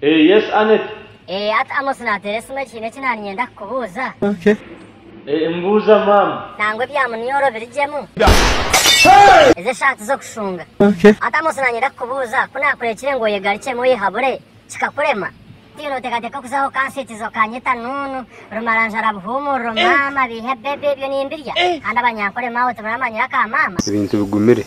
Yes Annet. Eeh ati Amos nateera esimu egi hiine eki naaba niinyenda kukubuuza. Eeh mbuuza maama. Nangwa ebya munioro birigyemu. Ezi eshaati z'okushunga. Ati Amos nanyenda kukubuuza ku naakureekire ngu oyegarukyemu oyehabure kikakurema? Tihaine oteekateeka okuzaho okansiitiza okanyeta nuunu, rumaranjara, buhuumuriro, maama, biihe, baby, ebyo nimbirya? Kandi abanyankore maawe timuramanyira ka maama? Ebintu bigumire.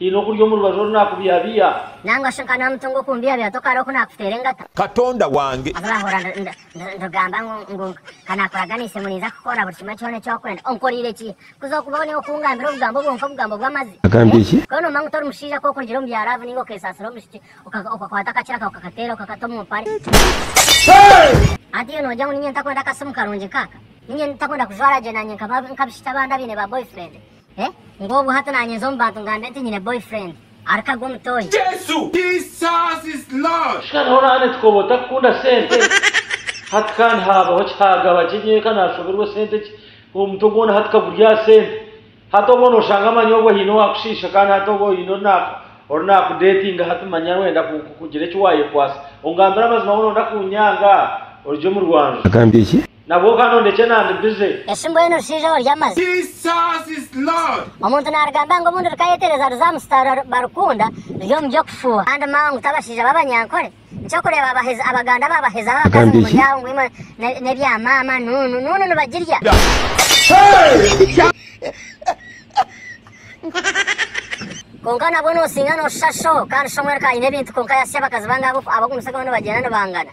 Haine okuri omu rubaju oru naakubihabiha. Nangwa shi nkanwa muto ngu okumbihabiha tokaroho ku naakuteera engata. Katonda wange. Abu ndahurira nitugamba ngu ka naakuraganiise ngu ninza kukora buri kimwe kyona eki orikwenda, onkoreire ki? Kuza okubaho niiwe okungambira obugambo bwonka, obugambo bw'amazi? Agambire ki? K'oba noomanya ngu tori mushaija kwonka orugire omu bya laavu nainga okeesaasira omushiki, okakwata akakira kawe okakateera okakata omu mpare. Hati iwe noogira ngu niinye ntakwenda akasimu karungi nk'aka? Niinye ntakwenda kujwara gye naanye nk'abishiki abandi abaine ba boyfriend? Eh ngu obwo hati nanyinza omu bantu ngambe nti nyine boyfriend arikagwe omutoyi. Jesus is Lord. Shika niho nane tukoba otakukunda sente hati kandi habaho ki hagaba ki nyeka nashoberwa esente ki omutwe gwona hati kaguri aha sente hati obwo noshanga amanya obwo haine owakushisha kandi hati obwo haine ori naku ori naku datinga hati manya wenda ku kugira eki wayekwasa ongambire amazima obwo nonda kunyanga orugye omu rwanju. Agambye ki? Nabwo okanondekye nandi busy. Eshi mbwenu orushaija oryo amazi. Jesus is Lord. Omuntu narugamba ngu obundi rukayetereza ruza amusitaarura barukunda ruri omu by'okufuha. Kandi mangu tabashaija babanyankore. Nkyokureba abahezi abaganda babahezaho abakazi ngu muri aho ngu imwe nebya mama nunu nunu nibagirya. Kwonka nabwo nosinga noshusha shoho kandi shoho omwe rukanyine ebintu kwonka yasya abakazi bangahe abokumusokeho nibagyenda nibangana.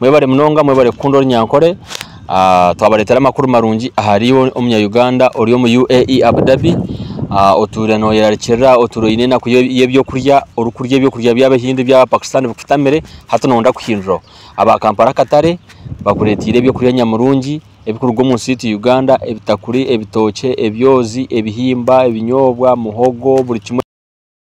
Mwebare munonga mwebare kukunda ori nyankore ah, twabaretera amakuru marungi ahari omunya Uganda ori omu UAE Abu Dhabi ah, otuure noyerarikirira otuure oyine enaku y'ebyokurya ori kurya ebyokurya by'abahindi by'aba Pakistan bikutamire hati noyenda kuhinduraho aba Kampala akatare bakureteire ebyokurya nyamurungi ebikuruga omu nsi yaitu Uganda ebitakuri ebitookye ebyozi ebihimba ebinyoobwa muhogo buri kimwe